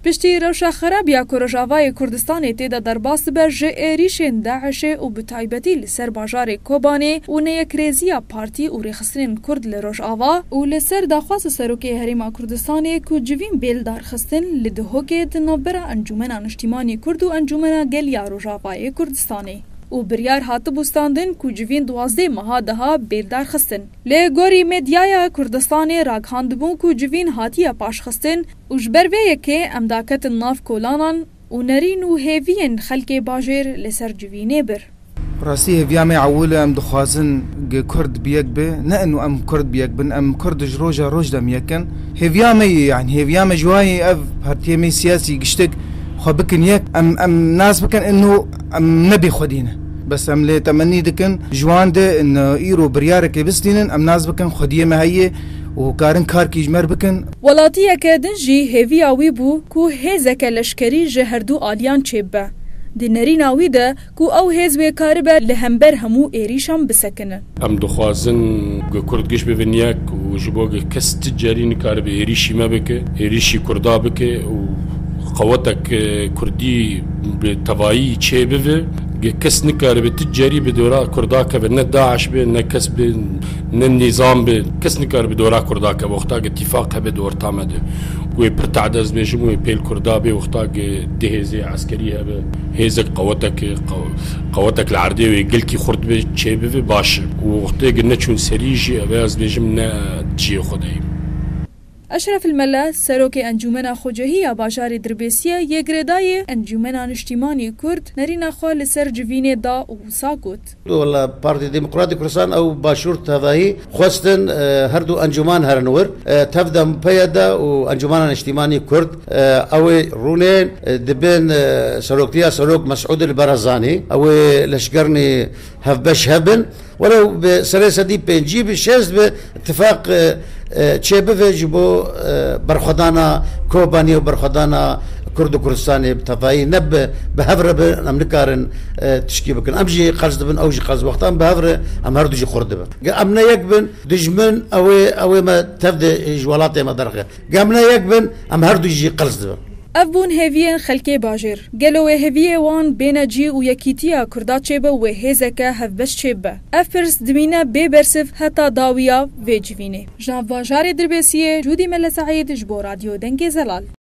Piştî rewşa xerab ya ku Rojavayê Kurdistanê tê de derbas dibe ji êrîşên DAIŞ'ê û bi taybetî li ser bajarê Kobanê û neyekrêziya partî û rêxistinên Kurd li Rojava, û li ser daxwaza Serokê Herêma Kurdistanê ku civîn bê lidarxistin, li Duhokê di navbera Encûmena Niştîmanî Kurd û Encûmena Gel ya Rojavayê Kurdistanê û biryar hatibû standin ku civîn duwazdeh meha diha bê lidarxistin, li gorî medyaya Kurdistanê ragihandibû ku civîn hatiye paşxistin, Û ji ber vê yekê em daketin nav kolanan û nerîn û hêviyên xelkê bajêr li ser civînê bir. Bi rastî hêviya me ewil e, em dixwazin ge kurd bi yek be, ne ino em kurd bi yek bin, em kurd ji roja roj dem yek in. Hêviya me ye, yanî hêviya me ji wan ye ev partiyê me siyasî giştek xwe bikin yek, em em nas bikin ino em ne bê xwedî ne. Bes em lê temenî dikin ji wan de ino îro biryarekê bistînin, em nas bikin xwediyê me heye, û karin kar kîjmer bikin. Welatiyeke din jî hêviya wî bû ku hêzeke leşkerî ji herdû aliyan çêbibe. Di nerîna wî de ku ew hêz wê karibe li hember hemû êrîşan bisekinin. Em dixwazin ku kurd giş bibin yek û ji bo ku kes ti carî nikaribe êrîşî me bike, êrîşî kurda bike û qewetek kurdî bi tevayî çêbive ku kes nikaribe ti carî bi dora kurda keve ne DAIŞ be ne kes be. Nin nîzam bi, kes nikare bi dora kurda ke wexta ke tîfaq hebe di orta me de. Wê pir tade ez bêjim wê pêl kurda bê wexta ke di hêzê eskerî hebe hêzek qewetek qewetek li erdê wê gilkî xurt be çê bive baş e. Wextê ke neçûn serî jî ev e ez bêjim ne di ciyê xwe de ye. Eşref El Mele, Serokê Encûmena Xwecihî ya Bajarê Dirbêsiyê yê girêdayî Encûmena Niştîmanî Kurd nerîna xwe li ser civînê da û wisa got. Wela Partî Demokratî Kurdistan ew Başûr tevahî xwestin her du encûman herin wir. Tev de PYD û Encûmena Niştîmanî Kurd ew ê rûnên di bin seroktiya Serok Mesûdil Barazanî ew ê leşkernî hevbeş hebin. Were û bi serê sedî pêncî bi şêst bi îtîfaq çêbive ji bo berxwedana Kobanî û berxwedana Kurd û Kurdistanê bi tevayî ne bi bi hev re bin em nikarin tişkî bikin. Em jî qers dibin ew jî qers wextan bi hev re em herdu jî xurt dibin. Ger em ne yek bin dijmin ew ê ew ê me tev de ji welatê me derxe. Gem ne yek bin, em her du jî qils dibin. Ev bûn hêviyên xelkê bajêr. Gelo wê hêviyê wan bêne cî û yekîtiya Kurda çêbe wê hêzeke hevbeş çêbibe? Ev pirs dimîne bê bersiv heta dawiya vê civînê. Ji nav bajarê Dirbêsiyê, Cûdî Mele Seîd ji bo Radyo Dengê Zelal.